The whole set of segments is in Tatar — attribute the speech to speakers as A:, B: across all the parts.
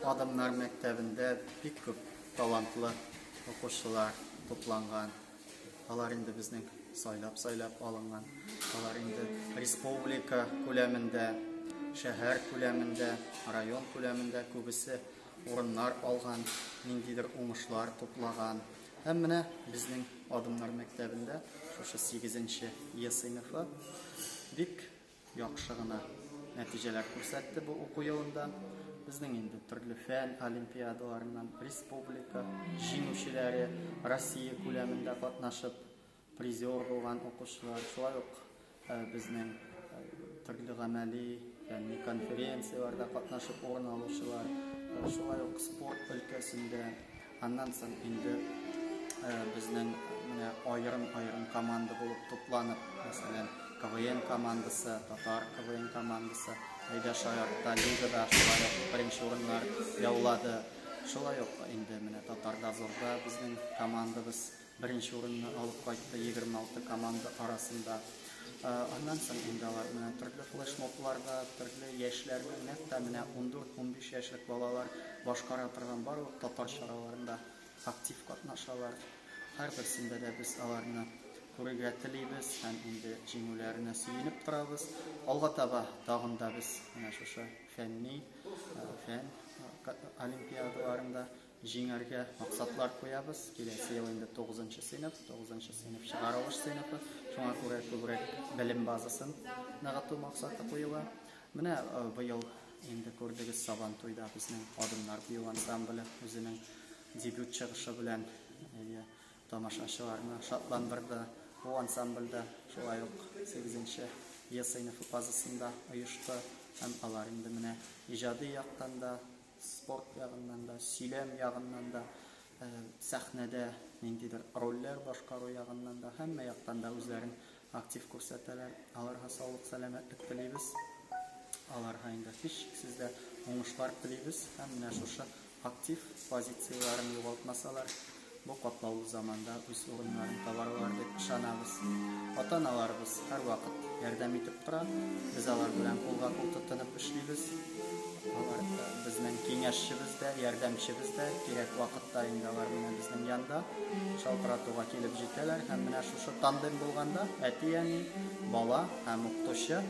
A: Адамнар мәктәбендә бик күп талантлы укучылар тупланган. Алар инде безнең сайлап-сайлап алынган. Алар инде республика күләмендә, шәһәр күләмендә, район күләмендә күбесе урыннар алган, ниндидер уңышлар туплаган. Һәм менә безнең Адымнар мәктәбендә шушы 8 нче Е сыйныфы бик Яхшы гына нәтиҗәләр күрсәтте бу уку елында. Безнең инде төрле фән олимпиадаларыннан республика җиңүчеләре, Россия күләмендә катнашып призер булган укучылар, шулай ук э, безнең э, төрле гамәли фәнни конференцияләрдә катнашып урын алучылар, э, шулай ук спорт өлкәсендә Аннан соң инде безнең менә аерым-аерым команда булып тупланып, мәсәлән, КВН командасы, татар КВН командасы, әйдә шаяртта лигада шулай ук беренче урыннар яулады. Шулай ук инде менә татар дозорда безнең командабыз Беренче урынны алып кайтты 26 команда арасында. Аннан соң инде алар менә төрле флешмобларда, төрле яшьләрне, нәкъ тә менә 14-15 яшьлек балалар башкара торган барлык татар чараларында актив катнашалар. Һәрберсендә дә без аларны күрергә телибез һәм инде җиңүләренә сөенеп торабыз. Алга таба тагын да без менә шушы фәнни, фән олимпиадаларында Җиңәргә максатлар куябыз. Киләсе ел инде 9 сыйныф, 9 сыйныф чыгарылыш сыйныфы. Шуңа күрә күбрәк белем базасын ныгыту максаты куела. Менә э, быел инде күрдегез Сабан туйда безнең Адымнар бию ансамбле үзенең дебют чыгышы белән э, тамашачыларны шатландырды. Бу ансамбльдә шулай ук 8 Е сыйныфы базасында оешты һәм алар инде менә иҗади яктан да Спорт ягыннан да, сөйләм ягыннан да, э, сәхнәдә ниндидер рольләр башкару ягыннан да, һәммә яктан да үзләрен актив күрсәтәләр. Аларга саулык, сәламәтлек телибез. Аларга инде һичшиксез дә уңышлар телибез һәм менә шушы актив позицияләрен югалтмасалар, Бу катлаулы заманда үз урыннарын табарлар дип ышанабыз. Ата-аналарыбыз һәрвакыт ярдәм итеп тора. Без алар белән кулга-кул тотынып эшлибез. Алар безнең киңәшчебез дә, ярдәмчебез дә. Кирәк вакытта инде алар менә безнең янда шалтыратуга килеп җитәләр. Һәм менә шушы тандем булганда әти-әни, бала һәм укытучы,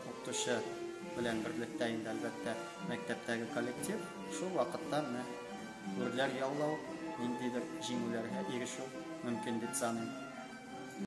A: укытучы белән берлектә инде, әлбәттә, мәктәптәге коллектив шул вакытта менә Гөрләр яулау, ниндидер җиңүләргә ирешү мөмкин дип саныйм.